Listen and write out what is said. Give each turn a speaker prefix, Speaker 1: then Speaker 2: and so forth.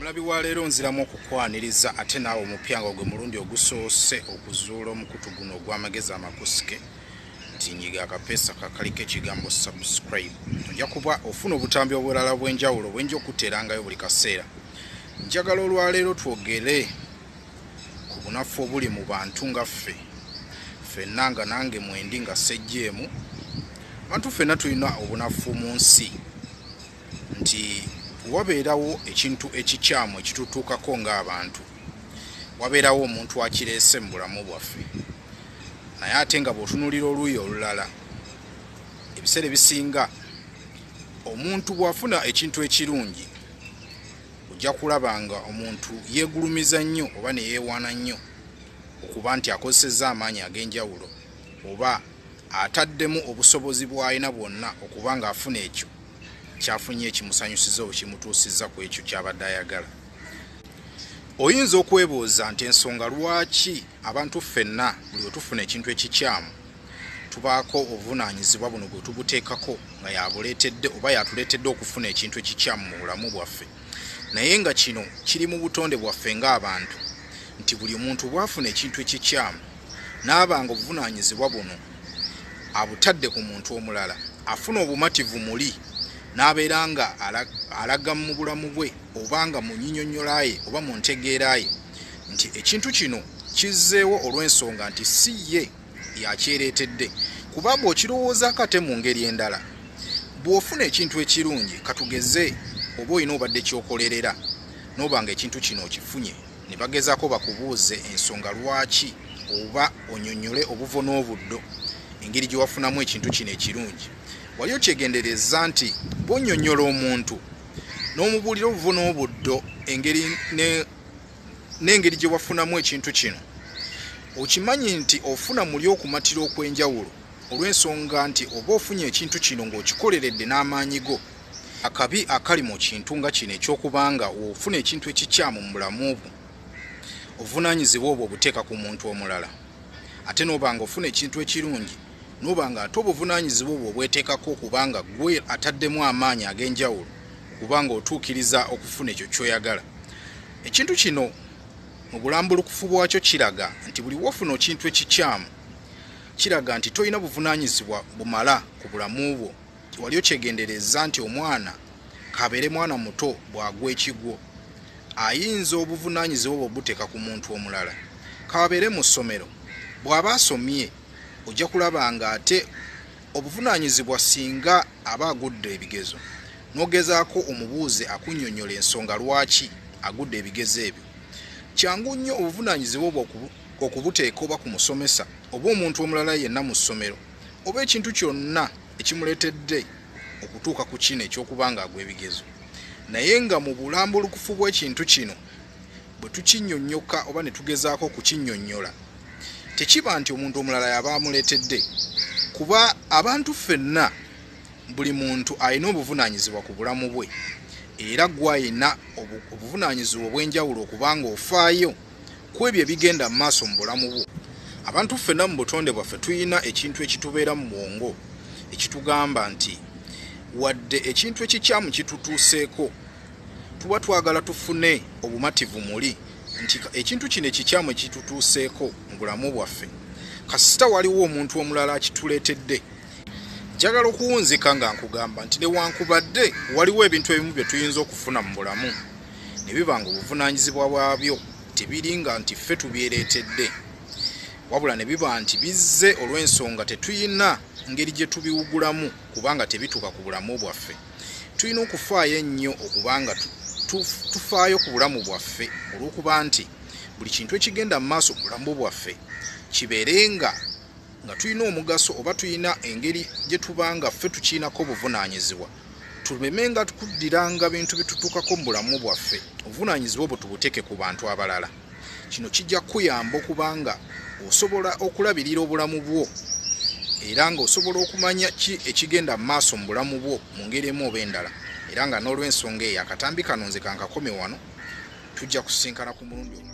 Speaker 1: omulabi wa leero nziramu okukwaniriza ate naawe omupya nga ogwe mulundi ogusoose okuzuula omukutu guno ogw'amagezi amakusike nti nyiga akapeesa kakaliko ekigambo subscribe ojja kuba ofuna obutambi obulala obw'enjawulo bwenja okuteerangayo buli kaseera njagala olwaleero twogere ku bunafu obuli mu bantu nga ffe fenna nga nange mwendi nga sejjeemu bantu fenna tulina obunafu mu nsi nti wabeerawo ekintu ekikyamu ekitutuukako ng'abantu wabeerawo omuntu akireese mu bulamu bwaffe naye ate nga bw'otunulira oluuyi olulala ebiseera ebisinga omuntu bw'afuna ekintu ekirungi ojja kulaba nga omuntu yeegulumiza nnyo oba ne yeewaana nnyo okuba nti akozesezza amaanyi ag'enjawulo oba ataddemu obusobozi bw'alina bwonna okuba ng'afuna ekyo kyafunye ekimusanyusiza oba kimutuusizza ku ekyo ky'abadde ayagala oyinza okwebuuza nti ensonga lwaki abantu ffenna buli wetufuna ekintu ekikyamu tubaako obuvunaanyizibwa buno gwe tuguteekako nga yabuleetedde oba yatuleetedde okufuna ekintu ekikyamu mu bulamu bwaffe naye nga kino kiri mu butonde bwaffe ng'abantu nti buli muntu bwafuna ekintu ekikyamu n'aba nga obuvunaanyizibwa buno abutadde ku muntu omulala afuna obumativu muli n'abeera nga alaga mu bulamu bwe oba nga mu nyinyonnyolaye oba mu ntegeeraye nti ekintu kino kizzeewo olw'ensonga nti si ye yakyereetedde kuba bw'okirowoozaako ate mu ngeri endala bw'ofuna ekintu ekirungi katugeze oba olina obadde kyokolerera noba nga ekintu kino okifunye ne bagezaako bakubuuze ensonga lwaki oba onyonyole obuvo n'obuddo engeri gye wafunamu ekintu kino ekirungi wali okyegendereza nti bwonyonyola omuntu n'omubuulira obuvo n'obuddo engeri ne n'engeri gye wafunamu ekintu kino okimanyi nti ofuna muli okumatira okw'enjawulo olw'ensonga nti oba ofunye ekintu kino ng'okikoleredde n'amaanyi go akabi akali mu kintu nga kino eky'okubanga ofuna ekintu ekikyamu mu bulamu bwo obuvunaanyizibwa obwo obuteeka ku muntu omulala ate n'oba nga ofuna ekintu ekirungi n'oba nga ate obuvunaanyizibwa obwo obweteekako okubanga gwe ataddemu amaanyi ag'enjawulo kuba ng'otuukiriza okufuna ekyo kyoyagala ekintu kino mu bulambulukufu bwakyo kiraga nti buli wofuna okintu ekikyamu kiraga nti tolina buvunanyizibwa bumala ku bulamu bwo wali okyegendereza nti omwana kabeere mwana muto bwagwa ekigwo ayinza obuvunanyizibwa bwe obuteeka ku muntu omulala kabeere mu ssomero bw'aba asomye ojja kulaba nga ate Obuvunaanyizibwa singa aba agudde ebigezo n'ogezaako omubuuze akunnyonnyola ensonga lwaki agudde ebigezo ebyo. Kyangu nnyo obuvunaanyizibwa obwo okubuteeka oba ku musomesa oba omuntu omulala yenna mu ssomero oba ekintu kyonna ekimuleetedde okutuuka ku kino eky'okuba ng'agwa ebigezo naye nga mu bulambulukufu bw'ekintu kino bwe tukinnyonnyoka oba ne tugezaako okukinnyonnyola tekiba nti omuntu omulala yaba amuleetedde kuba abantu ffenna buli muntu alina obuvunaanyizibwa ku bulamu bwe era gwalina obuvunaanyizibwa obw'enjawulo okubanga ofaayo ku ebyo ebigenda mu maaso mu bulamu bwo abantu ffenna mu butonde bwaffe tulina ekintu ekitubeera mu bwongo ekitugamba nti wadde ekintu ekikyamu kitutuuseeko tuba twagala tufune obumativu muli nti ekintu kino ekikyamu ekitutuuseeko mu bulamu bwaffe kasita waliwo omuntu omulala akituleetedde njagala okuwunzika nga nkugamba nti newankubadde waliwo ebintu ebimu bye tuyinza okufuna mu bulamu ne biba nga obuvunaanyizibwa bwabyo tebiri nga nti ffe tubyereetedde wabula ne biba nti bizze olw'ensonga tetuyina ngeri gye tubiwugulamu kubanga tebituuka ku bulamu bwaffe Tulina okufaayo ennyo okuba nga tufaayo ku bulamu bwaffe olw'okuba nti buli kintu ekigenda mu maaso mu bulamu bwaffe kibeere nga nga tulina omugaso oba tulina engeri gye tuba nga ffe tukiinako obuvunaanyizibwa tuleme nga kuddiranga bintu bitutukako mu bulamu bwaffe obuvunaanyizibwa obwo tubuteeke ku bantu abalala. Kino kijja kukuyamba okuba nga osobola okulabirira obulamu bwo era ng'osobola okumanya ki ekigenda mu maaso mu bulamu bwo mu ngeri emu oba endala era nga n'olw'ensonga eyo akatambi kano nze kankakome wano tujja kusisinkana ku mulundi omu